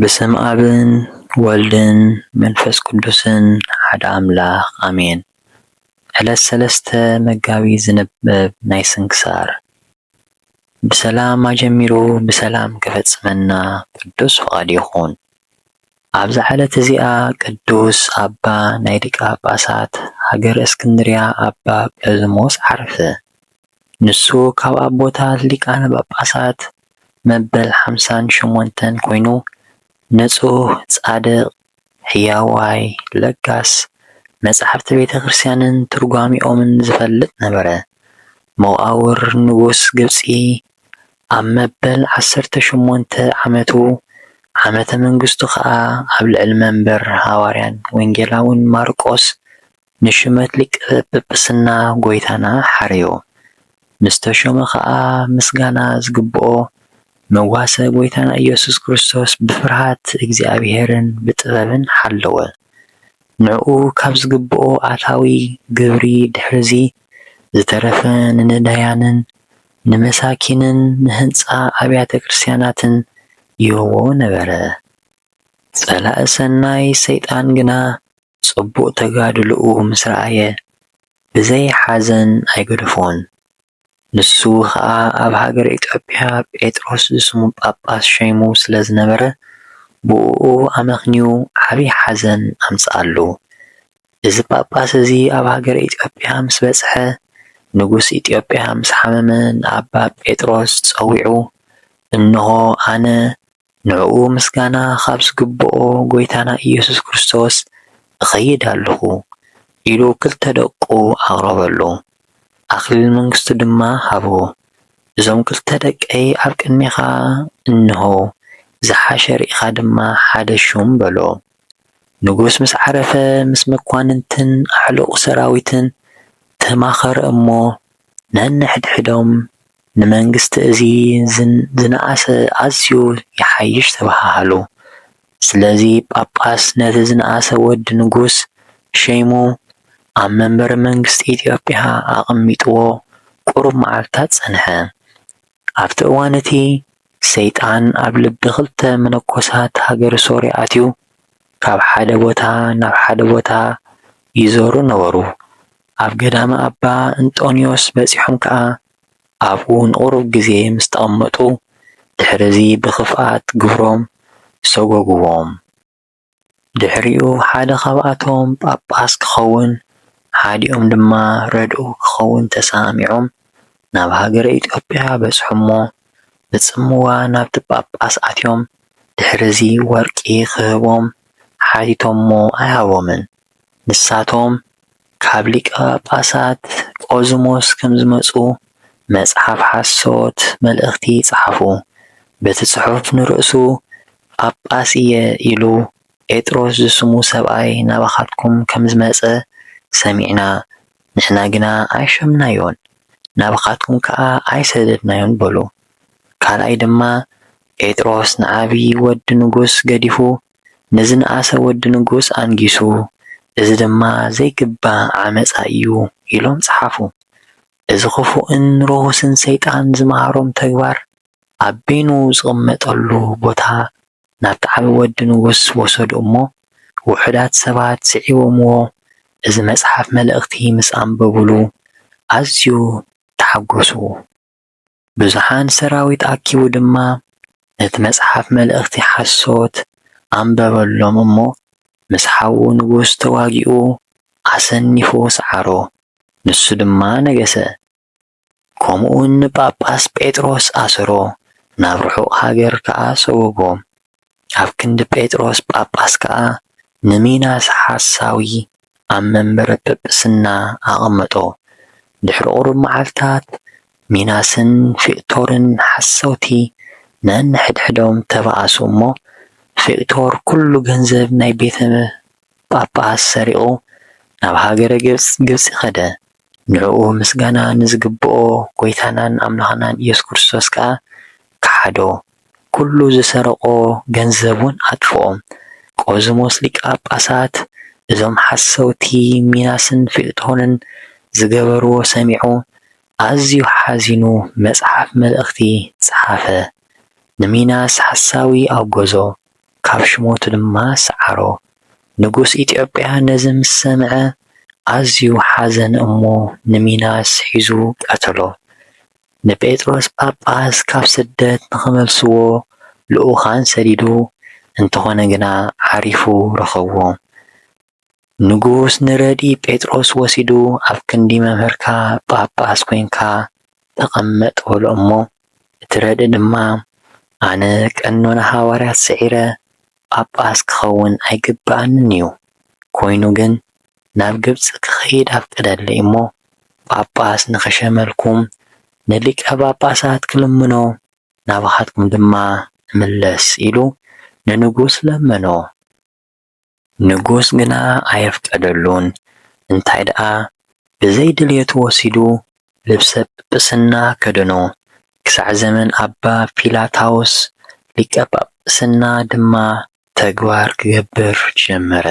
ብስም ኣብን ወልድን መንፈስ ቅዱስን ሓደ ኣምላኽ ኣሜን። ዕለት ሰለስተ መጋቢት ዝንበብ ናይ ስንክሳር ብሰላም ኣጀሚሩ ብሰላም ከፈጽመና ቅዱስ ፍቃድ ይኹን። ኣብዛ ዕለት እዚኣ ቅዱስ ኣባ ናይ ሊቀ ጳጳሳት ሃገረ እስክንድርያ ኣባ ጰዝሞስ ዓረፈ። ንሱ ካብ ኣቦታት ሊቃነ ጳጳሳት መበል ሓምሳን ሸሞንተን ኮይኑ ንጹህ፣ ጻድቕ፣ ሕያዋይ፣ ለጋስ፣ መጻሕፍቲ ቤተ ክርስቲያንን ትርጓሜኦምን ዝፈልጥ ነበረ። መቓብር ንጉስ ግብጺ ኣብ መበል ዓሰርተ ሸሞንተ ዓመቱ ዓመተ መንግስቱ ኸኣ ኣብ ልዕሊ መንበር ሃዋርያን ወንጌላውን ማርቆስ ንሹመት ሊቀ ጵጵስና ጐይታና ሓረዮ። ምስ ተሾመ ኸኣ ምስጋና ዝግብኦ መጓሰ ጐይታና ኢየሱስ ክርስቶስ ብፍርሃት እግዚኣብሔርን ብጥበብን ሓለወ። ንዕኡ ካብ ዝግብኦ ኣታዊ ግብሪ ድሕርዚ ዝተረፈ ንነዳያንን ንመሳኪንን ንህንጻ ኣብያተ ክርስትያናትን ይህቦ ነበረ። ጸላኢ ሰናይ ሰይጣን ግና ጽቡቕ ተጋድሎኡ ምስ ረኣየ ብዘይ ሓዘን ኣይገደፎን። ንሱ ኸኣ ኣብ ሃገረ ኢትዮጵያ ጴጥሮስ ዝስሙ ጳጳስ ሸይሙ ስለ ዝነበረ ብእኡ ኣመኽንዩ ዓቢ ሓዘን ኣምጽኣሉ። እዚ ጳጳስ እዚ ኣብ ሃገረ ኢትዮጵያ ምስ በጽሐ፣ ንጉስ ኢትዮጵያ ምስ ሓመመ ንኣባ ጴጥሮስ ጸዊዑ፣ እንሆ ኣነ ንዕኡ ምስጋና ኻብ ዝግብኦ ጐይታና ኢየሱስ ክርስቶስ እኸይድ ኣሎኹ፣ ኢሉ ክልተ ደቁ ኣቕረበሉ፣ ኣኽሊል መንግሥቱ ድማ ሃቦ። እዞም ክልተ ደቀይ ኣብ ቅድሜኻ እንሆ፣ ዝሓሸ ርኢኻ ድማ ሓደ ሹም፣ በሎ። ንጉስ ምስ ዓረፈ ምስ መኳንንትን ኣዕሉቕ ሰራዊትን ተማኸረ እሞ ነንሕድሕዶም ንመንግስቲ እዚ ዝነኣሰ ኣዝዩ ይሓይሽ ተበሃሃሉ። ስለዚ ጳጳስ ነቲ ዝነኣሰ ወዲ ንጉስ ሸይሙ ኣብ መንበረ መንግስቲ ኢትዮጵያ ኣቐሚጥዎ ቁሩብ መዓልትታት ጸንሐ። ኣብቲ እዋን እቲ፣ ሰይጣን ኣብ ልቢ ኽልተ መነኮሳት ሃገረ ሶርያ ኣትዩ፣ ካብ ሓደ ቦታ ናብ ሓደ ቦታ ይዞሩ ነበሩ። ኣብ ገዳመ ኣባ እንጦንዮስ በጺሖም ከኣ፣ ኣብኡ ንቝሩብ ግዜ ምስ ተቐመጡ፣ ድሕርዚ ብኽፍኣት ግብሮም ሰጐጕዎም። ድሕሪኡ ሓደ ኻብኣቶም ጳጳስ ክኸውን ሓዲኦም ድማ ረድኡ ክኸውን ተሰማሚዖም ናብ ሃገረ ኢትዮጵያ በጽሑ'ሞ ብጽምዋ ናብቲ ጳጳስ ኣትዮም ድሕርዚ ወርቂ ክህቦም ሓቲቶሞ ኣይሃቦምን። ንሳቶም ካብ ሊቀ ጳጳሳት ቆዝሞስ ከም ዝመጹ መጽሓፍ ሓሶት መልእኽቲ ጸሓፉ። በቲ ጽሑፍ ንርእሱ ጳጳስ ኢየ ኢሉ ጴጥሮስ ዝስሙ ሰብኣይ ናባኻትኩም ከም ዝመጸ ሰሚዕና ንሕና ግና ኣይሸምናዮን ናባኻትኩም ከኣ ኣይሰደድናዮን በሉ። ካልኣይ ድማ ጴጥሮስ ንዓቢ ወዲ ንጉስ ገዲፉ ንዝነኣሰ ወዲ ንጉስ ኣንጊሱ፣ እዚ ድማ ዘይግባእ ዓመጻ እዩ ኢሎም ጸሓፉ። እዚ ኽፉእን ርኹስን ሰይጣን ዝመሃሮም ተግባር፣ ኣብ በይኑ ዝቕመጠሉ ቦታ ናብቲ ዓቢ ወዲ ንጉስ ወሰዱ እሞ፣ ውሑዳት ሰባት ስዒቦምዎ እዚ መጽሓፍ መልእኽቲ ምስ ኣንበቡሉ ኣዝዩ ተሓጐሱ። ብዙሓን ሰራዊት ኣኪቡ ድማ ነቲ መጽሓፍ መልእኽቲ ሓሶት ኣንበበሎም እሞ ምስ ሓዉ ንጉስ ተዋጊኡ ኣሰኒፉ ሰዓሮ፣ ንሱ ድማ ነገሰ። ከምኡውን ንጳጳስ ጴጥሮስ ኣሰሮ፣ ናብ ርሑቕ ሃገር ከኣ ሰጐጎ። ኣብ ክንዲ ጴጥሮስ ጳጳስ ከኣ ንሚናስ ሓሳዊ ኣብ መንበረ ጵጵስና ኣቐመጦ። ድሕሪ ቁሩብ መዓልታት ሚናስን ፊቅቶርን ሓሰውቲ ነንሕድሕዶም ተበኣሱ እሞ ፊቅቶር ኩሉ ገንዘብ ናይ ቤተ ጳጳስ ሰሪቑ ናብ ሃገረ ግብጺ ከደ። ንዕኡ ምስጋና ንዝግብኦ ጐይታናን ኣምላኽናን ኢየሱስ ክርስቶስ ከኣ ከሓዶ፣ ኵሉ ዝሰረቖ ገንዘብውን ኣጥፍኦ። ቆዝሞስ ሊቀ ጳጳሳት እዞም ሓሰውቲ ሚናስን ፊልጦንን ዝገበርዎ ሰሚዑ ኣዝዩ ሓዚኑ መጽሓፍ መልእኽቲ ጸሓፈ፣ ንሚናስ ሓሳዊ ኣውገዞ፣ ካብ ሽሞቱ ድማ ሰዓሮ። ንጉስ ኢትዮጵያ ነዚ ምስ ሰምዐ ኣዝዩ ሓዘነ እሞ ንሚናስ ሒዙ ቀተሎ። ንጴጥሮስ ጳጳስ ካብ ስደት ንኽመልስዎ ልኡካን ሰዲዱ፣ እንተኾነ ግና ዓሪፉ ረኸቦም። ንጉስ ንረድኢ ጴጥሮስ ወሲዱ ኣብ ክንዲ መምህርካ ጳጳስ ኮይንካ ተቐመጥ በሎ እሞ እቲ ረድኢ ድማ ኣነ ቀኖና ሃዋርያት ስዒረ ጳጳስ ክኸውን ኣይግብኣንን እዩ ኮይኑ ግን ናብ ግብጺ ክኸይድ ኣፍቅደለይ እሞ ጳጳስ ንኽሸመልኩም ንሊቀ ጳጳሳት ክልምኖ ናባኻትኩም ድማ እምለስ ኢሉ ንንጉስ ለመኖ። ንጉስ ግና ኣየፍቀደሉን፣ እንታይ ደኣ ብዘይ ድልየቱ ወሲዱ ልብሰ ጵጵስና ከደኖ፣ ክሳዕ ዘመን ኣባ ፊላታዎስ ሊቀ ጳጵስና ድማ ተግባር ክገብር ጀመረ።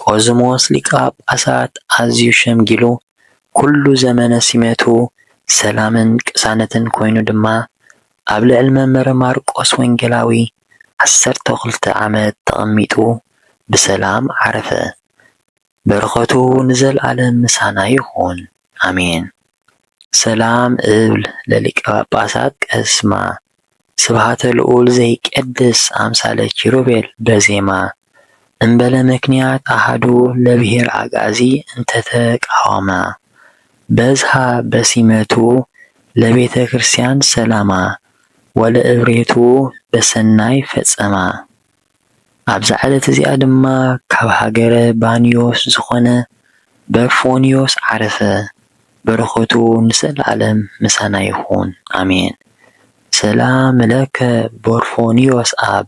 ቆዝሞስ ሊቀ ጳጳሳት ኣዝዩ ሸምጊሉ፣ ኩሉ ዘመነ ሲመቱ ሰላምን ቅሳነትን ኮይኑ ድማ ኣብ ልዕሊ መንበረ ማርቆስ ወንጌላዊ ዓሰርተ ክልተ ዓመት ተቐሚጡ ብሰላም ዓረፈ በረኸቱ ንዘልኣለም ምሳና ይኹን ኣሜን ሰላም እብል ለሊቀ ጳጳሳት ቀስማ ስብሃተ ልኡል ዘይቀድስ ኣምሳለ ኪሩቤል በዜማ እምበለ ምክንያት ኣሃዱ ለብሔር ኣግኣዚ እንተተቃወማ በዝሃ በሲመቱ ለቤተ ክርስቲያን ሰላማ ወለእብሬቱ በሰናይ ፈጸማ። ኣብዛ ዕለት እዚኣ ድማ ካብ ሃገረ ባንዮስ ዝኾነ በርፎንዮስ ዓረፈ። በረኸቱ ንዘለዓለም ምሳና ይኹን ኣሜን። ሰላም ለከ በርፎንዮስ ኣብ።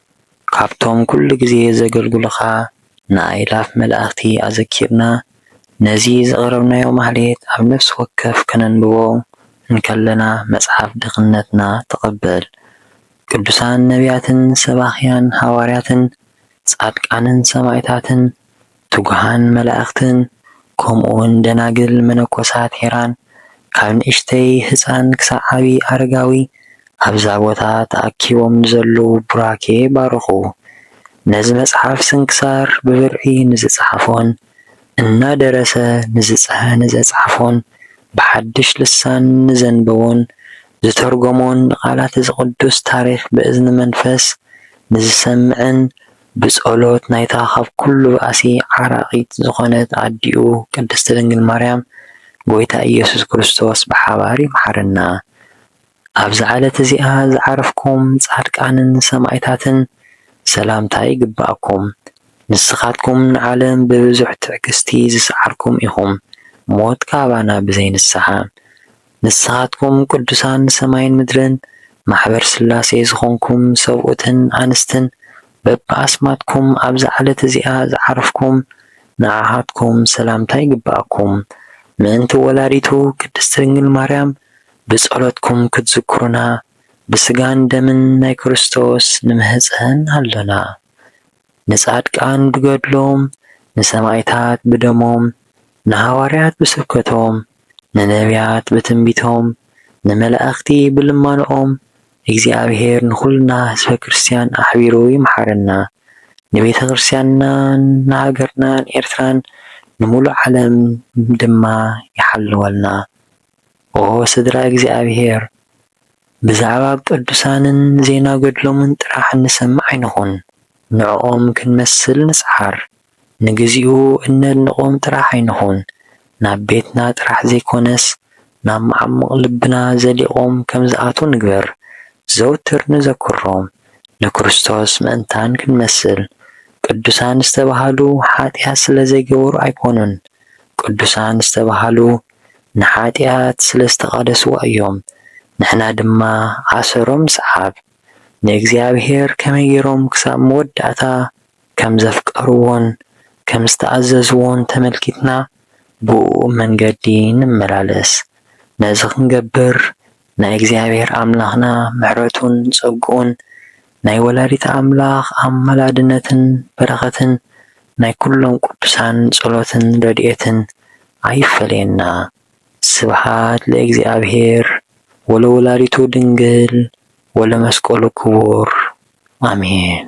ካብቶም ኩሉ ግዜ ዘገልግሉኻ ንኣእላፍ መላእኽቲ ኣዘኪርና ነዚ ዘቕረብናዮ ማኅሌት ኣብ ነፍሲ ወከፍ ከነንብቦ እንከለና መጽሓፍ ድኽነትና ተቐበል ቅዱሳን ነቢያትን ሰባኽያን ሓዋርያትን ጻድቃንን ሰማዕታትን ትጉሃን መላእኽትን ከምኡውን ደናግል መነኮሳት ሄራን ካብ ንእሽተይ ህጻን ክሳዕ ዓቢ ኣረጋዊ ኣብዛ ቦታ ተኣኪቦም ንዘለዉ ቡራኬ ባርኹ። ነዚ መጽሓፍ ስንክሳር ብብርዒ ንዝጸሓፎን እናደረሰ ንዘጽሓፎን ብሓድሽ ልሳን ንዘንበቦን ዝተርጎሞን ንቃላት'ዚ ቅዱስ ታሪኽ ብእዝኒ መንፈስ ንዝሰምዕን ብጸሎት ናይታ ኻብ ኵሉ ባእሲ ዓራቒት ዝዀነት ኣዲኡ ቅድስቲ ድንግል ማርያም ጐይታ ኢየሱስ ክርስቶስ ብሓባር ይምሓረና። ኣብዛ ዕለት እዚኣ ዝዓረፍኩም ጻድቃንን ሰማእታትን ሰላምታ ይግብኣኩም። ንስኻትኩም ንዓለም ብብዙሕ ትዕግስቲ ዝሰዓርኩም ኢኹም፣ ሞት ካባና ብዘይ ንስሓ። ንስኻትኩም ቅዱሳን ሰማይን ምድርን ማሕበር ሥላሴ ዝኾንኩም ሰብኡትን ኣንስትን በብኣስማትኩም ኣብዛ ዕለት እዚኣ ዝዓረፍኩም ንዓኻትኩም ሰላምታ ይግበኣኩም ምእንቲ ወላዲቱ ቅድስት ድንግል ማርያም ብጸሎትኩም ክትዝክሩና ብሥጋን ደምን ናይ ክርስቶስ ንምህጸን ኣሎና ንጻድቃን ብገድሎም ንሰማእታት ብደሞም ንሃዋርያት ብስብከቶም ንነብያት ብትንቢቶም፣ ንመላእኽቲ ብልማኖኦም፣ እግዚኣብሔር ንኹልና ህዝበ ክርስቲያን ኣሕቢሩ ይምሓረና። ንቤተ ክርስቲያንናን ንሃገርናን ኤርትራን ንምሉእ ዓለም ድማ ይሓልወልና። ኦ ስድራ እግዚኣብሔር ብዛዕባ ቅዱሳንን ዜና ገድሎምን ጥራሕ እንሰምዕ ኣይንኹን፣ ንዕኦም ክንመስል ንጽዓር። ንግዚኡ እነድንቖም ጥራሕ ኣይንኹን፣ ናብ ቤትና ጥራሕ ዘይኮነስ ናብ መዓሙቕ ልብና ዘሊቖም ከም ዝኣትዉ ንግበር። ዘውትር ንዘክሮም፣ ንክርስቶስ ምእንታን ክንመስል። ቅዱሳን ዝተባህሉ ሓጢኣት ስለ ዘይገበሩ ኣይኮኑን፣ ቅዱሳን ዝተባህሉ ንሓጢኣት ስለ ዝተቓደስዋ እዮም። ንሕና ድማ ኣሰሮም ንስዓብ። ንእግዚኣብሄር ከመይ ገይሮም ክሳብ መወዳእታ ከም ዘፍቀርዎን ከም ዝተኣዘዝዎን ተመልኪትና ብእኡ መንገዲ ንመላለስ። ነዚ ክንገብር ናይ እግዚኣብሔር ኣምላኽና ምሕረቱን ጸግኡን ናይ ወላዲተ ኣምላኽ ኣማላድነትን በረኸትን ናይ ኩሎም ቅዱሳን ጸሎትን ረድኤትን ኣይፈለየና። ስብሐት ለእግዚኣብሔር ወለወላዲቱ ድንግል ወለመስቀሉ ክቡር ኣሜን።